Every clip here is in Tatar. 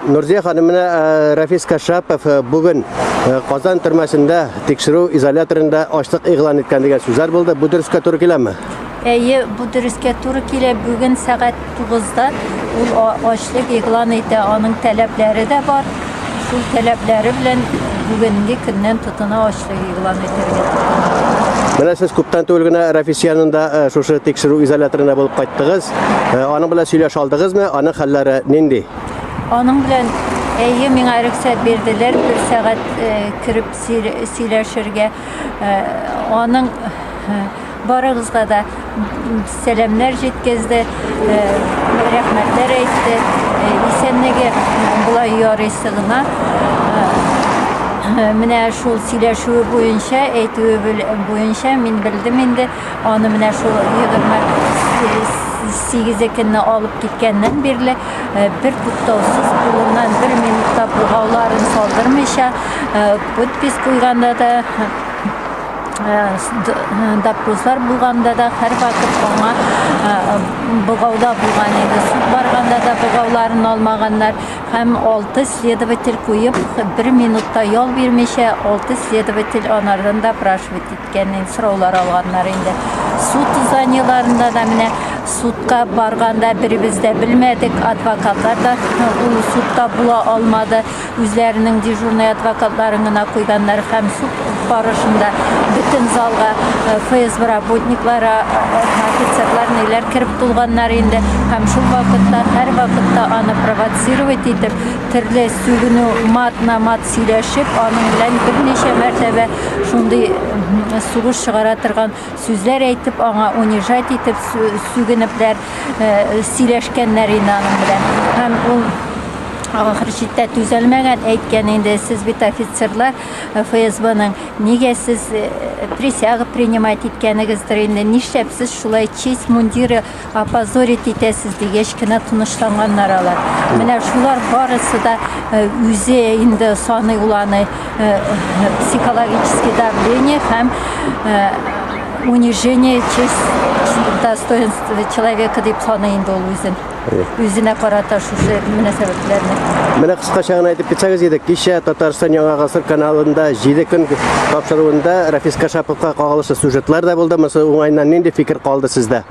Нурзия ханым менә э, Рафис Кашапов э, бүген э, Казан төрмәсендә тикшерү изоляторында ачлык игълан иткән дигән сүзләр булды. Бу дөрескә туры киләме? Әйе, бу дөрескә туры килә. Бүген сәгать 9-да ул ачлык игълан итә. Аның таләпләре дә бар. Шул таләпләре белән бүгенге көннән тотына ачлык игълан итәргә тиеш. Менә сез күптән түгел генә Рәфис янында э, шушы тикшерү изоляторында булып кайттыгыз. Э, аның белән сөйләшә алдыгызмы? Аның хәлләре нинди? Аның белән әйе миңа рөхсәт бирделәр бер сәгать э, кереп сөйләшергә. Аның Барыгызга да сәламнәр җиткезде, э, рәхмәтләр әйтте. Э, исәнлеге болай ярыйсы гына. Э, менә шул сөйләшүе буенча, әйтүе буенча мин белдем инде. Аны менә шул 28 көнне алып киткәннән бирле бер туктаусыз кулыннан бер минутта булгауларын салдырмыйча подпись куйганда да допрослар булганда да һәрвакыт аңа богауда булган иде суд барганда да богауларын алмаганнар һәм алты следователь куеп бер минутта ял бирмичә алты следователь анардан допрашивать иткән сораулар алганнар инде суд зданиеларында да менә судка барганда беребез дә белмәдек адвокатлар да ул судта була алмады үзләренең дежурный адвокатларын гына куйганнар һәм суд барышында бөтен залга э, ФСБ работниклары, э, э, офицерлар ниләр кереп тулганнар инде һәм шул вакытта һәр вакытта аны провоцировать итеп, төрле сүгенү мат на мат сөйләшеп, аның белән берничә мәртәбә шундый сугыш чыгара торган сүзләр әйтеп, аңа унижать итеп, сүгенепләр сөйләшкәннәр инде аның белән. Һәм ул ахыр чиктә түзәлмәгән, әйткән инде, сез бит офицерлар э, ФСБның, нигә сез э, присяга принимать иткәнегездер инде, нишләп сез шулай честь мундиры Опозорить итәсез дигәч кенә тынычланганнар алар. Менә шулар барысы да э, үзе инде саный ул аны э, психологический давление һәм э, унижение честь достоинства человека дип саный инде ул үзен. Үзенә карата кисәтүчесе мөнәсәбәтләрне. Менә кыскача гына әйтеп китсәгез иде, кичә Татарстан Яңа гасыр каналында 7 көн тапшыруында Рафис Кашаповка кагылышлы сюжетлар да булды. Монысы уңайыннан нинди фикер калды сездә?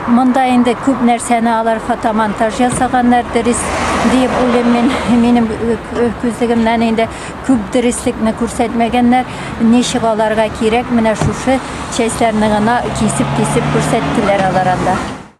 Монда инде күп нәрсәне алар фотомонтаж ясаганнар, дөрес диеп уйлыйм мин. Минем күзлегемнән инде күп дөреслекне күрсәтмәгәннәр. Ничек аларга кирәк, менә шушы частьләрне гына кисеп-кисеп күрсәттеләр алар анда.